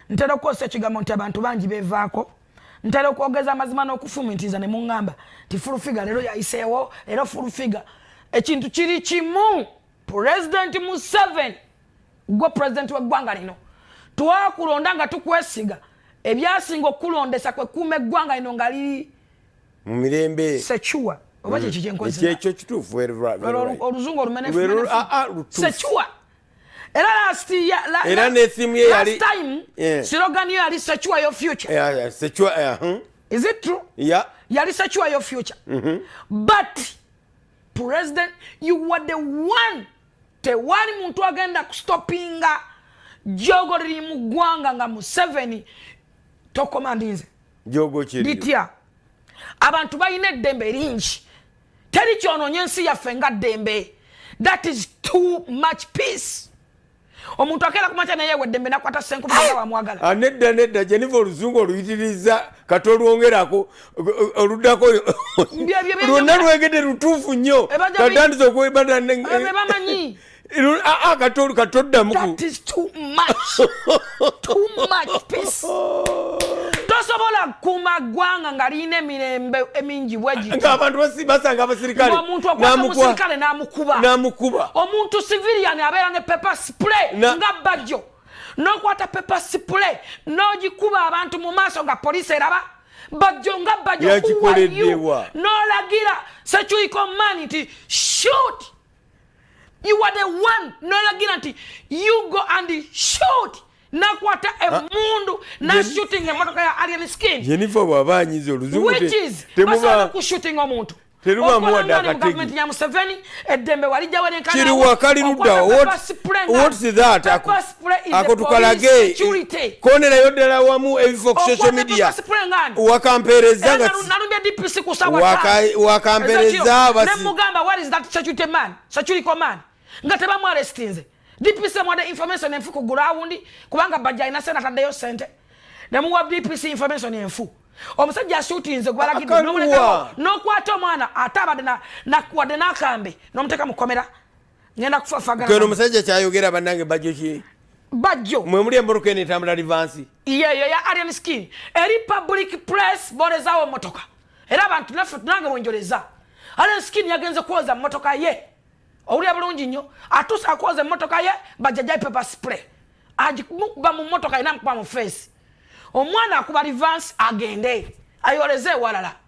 ntera okukozesa ekigambo nti abantu bangi bevaako ntera okwogeza amazima n'okufumitiriza ne muŋŋamba nti fulufiga leero yayiseewo leero fulufiga ekintu kiri kimu pulezidenti museveni gwe pulezidenti w'eggwanga lino twakulonda nga tukwesiga ebyasinga okukulondesa kwe kuuma eggwanga lino nga liri mu mirembe secuwa oba kyekyo mm. kyenkozeekyo kituufu oluzungu olumenefusecuwa era last year la, era ne theme ye yali last time yeah. slogan ye yali secure your future yeah, yeah, secure yeah, huh? is it true yeah yali secure your future mm -hmm. but president you were the one tewali muntu agenda kustopinga jogoriri mu ggwanga nga museveni tokomandinze bitya abantu balina eddembe lingi teri kyononya ensi yaffe nga ddembe that is too much peace omuntu akeera kumakya naye weddembe nakwata senkumi nga wamwagala ah, nedda nedda jeniva oluzungu oluyitiriza kati olwongerako oluddako lwonna lwegedde lutuufu nnyo katandiza okwebamanyi akatolu katoddamu tosobola kukuuma ggwanga nga lirina emirembe emingi bwegitaabantu basanga abasirikaleomuntu okwata omusirikale namukuba omuntu civilian abeera ne pepa spray nga bajjo nokwata pepa spray nogikuba abantu mu maaso nga poliisi eraba bajjo nga bajjo kuwayo nolagira secuiko mani nti shut you are the one noyagira nti you go and shoot nakwata ah. emundu nashooting emotoka ya alien skin jenifa bwaba anyiza oluzungubasobola kushooting omuntu gavumenti ya museveni eddembe walijjawo nenkanawo kiri wakali luddawo what, what is that ako tukalage konerayo ddala wamu ebifo ku social media wakampereza nga wakampereza nemugamba what is that security man security command nga tebamwarestinze dpc mwade information enfu ku gurawundi kubanga bajja alina sente ataddeyo sente nemuwa dpc information enfu omusajja asutinze gwalagidde nokwata omwana ate abadde wadde nakambe nomuteeka mukomera ngenda kufafagana kweno musajja kyayogera banange bajjo ki bajjo mwe muli emburuka eno etambula livansi yeyo ya alien skin eri public press bolezawo motoka era abantu naffe tunange bwenjoleza alien skin yagenze kwoza motoka ye owulira bulungi nnyo atuuse akwoza emotoka ye bajajai paper spray agimukuba mu motoka ina mukuba mu feesi omwana akuba livansi agende ayoleze ewalala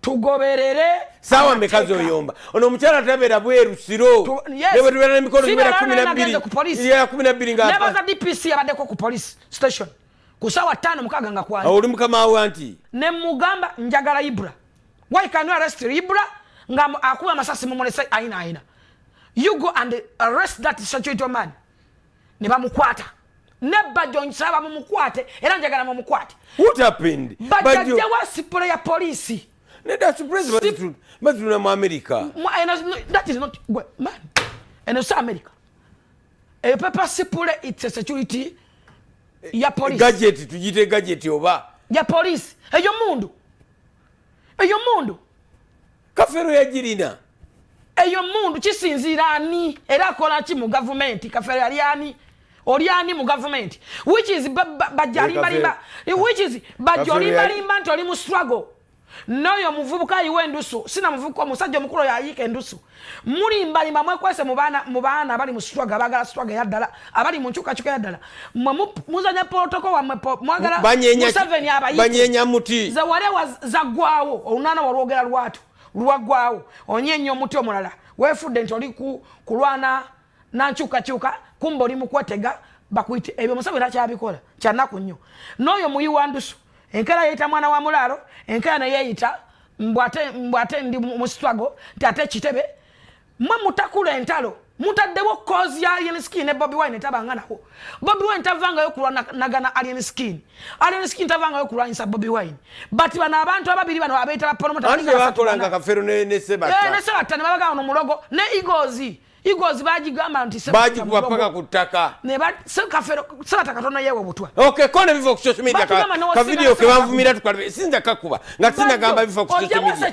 tugoberere sawa mekazi oyomba ono omukyala tabera bweru siro nebwetubeera nemikolo gibeera kumi nabbiri ya kumi nabbiri nganebaza dpc yabaddeko ku police station ku sawa ttaano mukaaga nga kwali oli mukama wa nti ne mugamba njagala ibra why can you arrest ibra nga akuba amasasi mumulese ayina ayina you go and arrest that security man ne bamukwata ne bajjo nsaba mumukwate era njagala mumukwate bajjawa sipolo ya poliisi batulina mu amerika eno si amerika eyo pepa sipule its a security ya poliisi gajeti tugite gajeti oba ya poliisi eyo mundu eyo mundu kafero yagirina eyo mundu kisinziira ani era akola ki mu gavumenti kafero yali ani oli ani mu gavumenti which is bajalimbalimba which is bajolimbalimba nti oli mu struggle noyo muvubuka ayiwa endusu sina muvubuka omusajja omukulu oyo ayiika endusu mulimbalimba mwekwese mu baana abali mu struggle abagala struggle eyaddala abali mu nkyukakyuka eyaddala mwe muzanya protoko wamwe mwagala museveni abayibanyenya muti ze wale zagwawo olunana walwogera lwatu lwagwawo onyenya omuti omulala wefudde nti oli kulwana nankyukakyuka kumba oli mukwetega bakuyite ebyo museveni akyabikola kyanaku nnyo n'oyo muyi wa ndusu enkera yeyita mwana wa mulaalo enkera neyeyita mbwate ndi musitwago nti ate kitebe mwe mutakula entalo mutaddewo kozi ya alien skin ne bobi wine tabanga nawo bobi wine tavangayo kulwanagana alien skin alien skin tavangayo kulwanyisa bobi wine but bano abantu ababiri bano abeetala polomotabakolanga kafero nesebatta ne babagaa no mulogo ne igozi igozi bagigamba nti bagikuba paka ku ttaka sebata katono yewe butwa okay, kone biva ku social media ka, ka video kebanvumira tukalbe sinza kakuba nga tinagamba bifa ku social media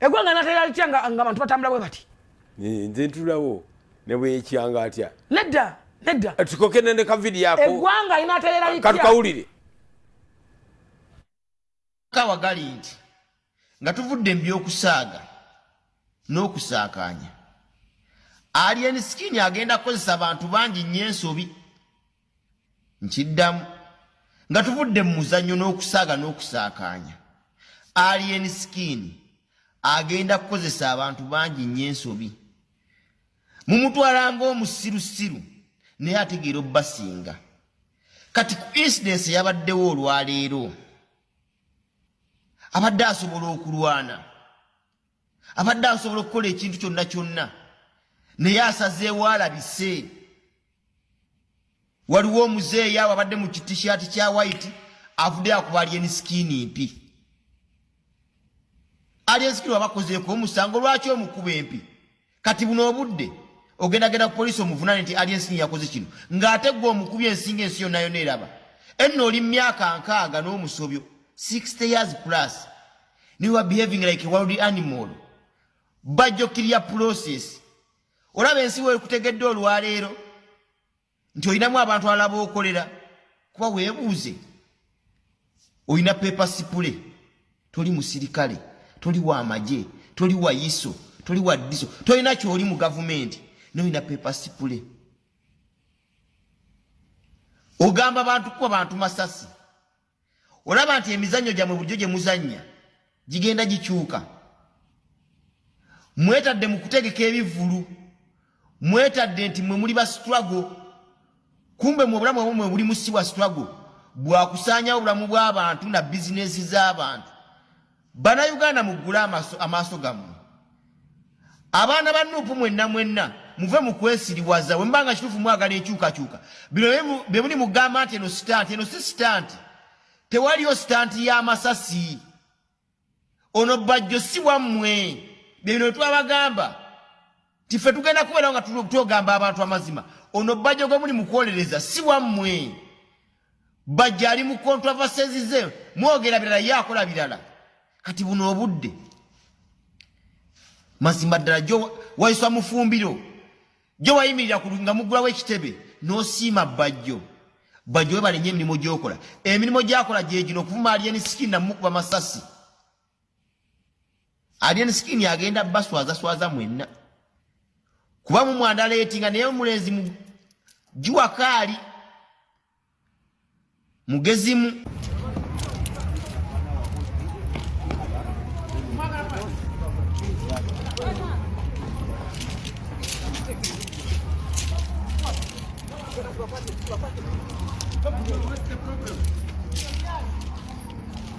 egwanga natera litya nga abantu batambula bwe bati nze ntulawo nebweyekyanga atya nedda nedda eh, tukoke nende kavidiyo ako egwanga inaterera litya katukawulire kawa gali nti nga tuvudde mu by'okusaaga n'okusaakaanya alien skin agenda kukozesa bantu bangi nnyo ensobi nkiddamu nga tuvudde mu muzannyo n'okusaaga n'okusaakaanya alien skin agenda kukozesa abantu bangi nnyo ensobi mumutwala ng'omusirusiru naye ategeera obubasinga kati ku incidence yabaddewo olwaleero abadde asobola okulwana abadde asobola okukola ekintu kyonna kyonna naye asazeewo alabise waliwo omuzeeyi awo abadde mu kitishaati kya white avudde akuba alyeni sikiini mpi alyeni sikiini wabakozeeko omusango lwaki omukuba empi kati buno obudde ogendagenda ku poliisi omuvunane nti alyeni sikiini yakoze kino ng'ate gwe omukubi ensinga ensi yonna yona eraba enno oli mumyaka nkaaga n'omusobyo 60 years plus niwa behaving like a world animal bajja okkirira process olaba ensi wekutegedde olwaleero nti olinamu abantu alaba okolera kuba webuuze olina pepa sipule toli musirikale toli wa magye toli wa iso toli wa diso tolina kyoli mu gavumenti nolina pepa sipule ogamba bantu kuba bantu masasi olaba nti emizannyo gyammwe bulijjo gye muzannya gigenda gikyuka mwetadde mu kutegeka ebivvulu mwetadde nti mwe muli ba strago kumbe mu obulamu bwamwe mwe buli musi wa strago bwakusaanyawo obulamu bw'abantu na bizinensi z'abantu Bana Uganda mugula amaso amaso gamu. Abana ba nupu mwenna mwenna muve mu kwesiriwaza wemba nga kitufu mwagala ekyuka kyuka. Bino be muli mugamba ate no stunt eno si stunt. Tewaliyo stunt ya masasi. Ono bajjo si wamwe. Bino twabagamba. nti ffe tugenda kubeerawo nga twogamba abantu amazima ono bajja gwe muli mukwolereza si wammwe bajja ali mu kontravasesize mwogera birala ye akola birala kati buno obudde mazima ddala jo wayiswa mufumbiro jo wayimirira ku nga mugulawo ekitebe nosiima bajjo bajjo webalenye emirimu gyokola emirimu gyakola gyegino okuvumaaliya ne sikini namukuba masasi Alien skin agenda baswaza swaza mwenna. Kuba mu mwanda leti nga naye omulenzi mu jua kali mugezimu Thank you.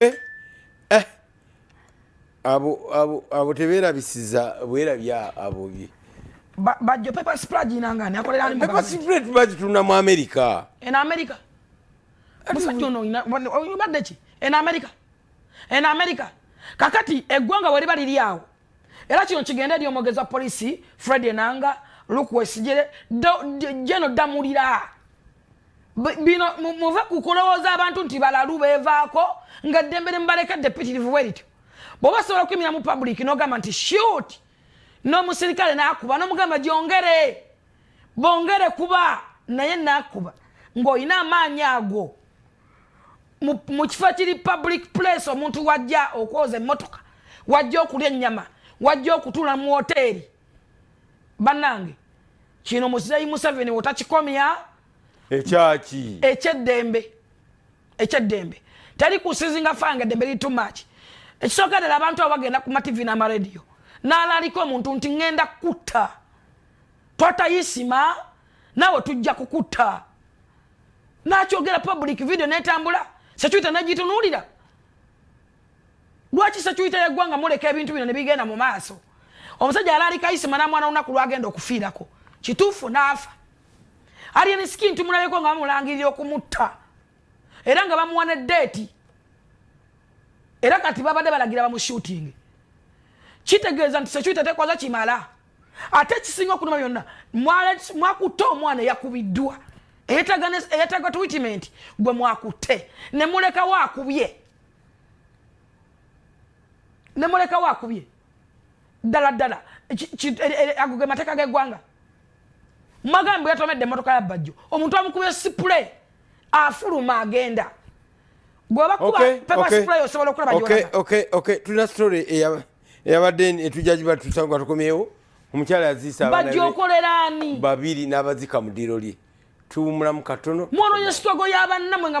eh, eh. abo teberabisiza bwerabya abo bye bajjo paper spread inangani akolera ni paper spread bajjo tuna mu america en america musajjo no ina obadde ki en america en america kakati eggwanga wali bali lyawo era kino kigenda eri omwogezi wa poliisi fred enanga lukwesijere jeno damulira bino muve ku kulowooza abantu nti balalu beevaako nga ddembe ne mubalekedde pitirivu bwe lityo bwoba osobola okuyimira mu public nogamba nti shut n'omusirikale nakuba nomugamba gyongere bongere kuba naye nakuba ng'olina amaanyi ago mu kifo kiri public place omuntu wajja okwoza emmotoka wajja okulya ennyama wajja okutuula mu woteeri bannange kino muzeeyi museveni wotakikomya ekyaki ekyeddembe ekyeddembe teri kusizinga fanga eddembe liri too much ekisooka ddala abantu abo bagenda ku mativi n'amarediyo n'alaalika omuntu nti ŋŋenda kukutta twatayisima naawe tujja kukutta nakyogera public video netambula security nagitunulira lwaki security yeggwanga muleka ebintu bino nebigenda mu maaso omusajja yali alikayisima namwana lunaku lwagenda okufiirako kituufu naafa alien skin tumulabeko nga bamulangirira okumutta era nga bamuwa ne deeti era kati babadde balagira bamushooting kitegeeza nti security tekwaza kimala ate ekisinga okunuma byonna mwakutte omwana eyakubiddwa eyetaga twitimanti gwe mwakutte nemulekawo akubye nemulekawo akubye ddala ddala ago ge mateeka g'eggwanga magambo yatomedde emotoka ya bajjo omuntu amukubye sipule afuluma agenda gwebakuba pepa sipule osobola okulaba tulina story eya eyabadde etujja giba tusanga tukomyewo omukyala yaziisa bajja okolera ani babiri n'abazika mu ddiiro lye tuwumulamu katono mwononya sitwago y'abannamwe nga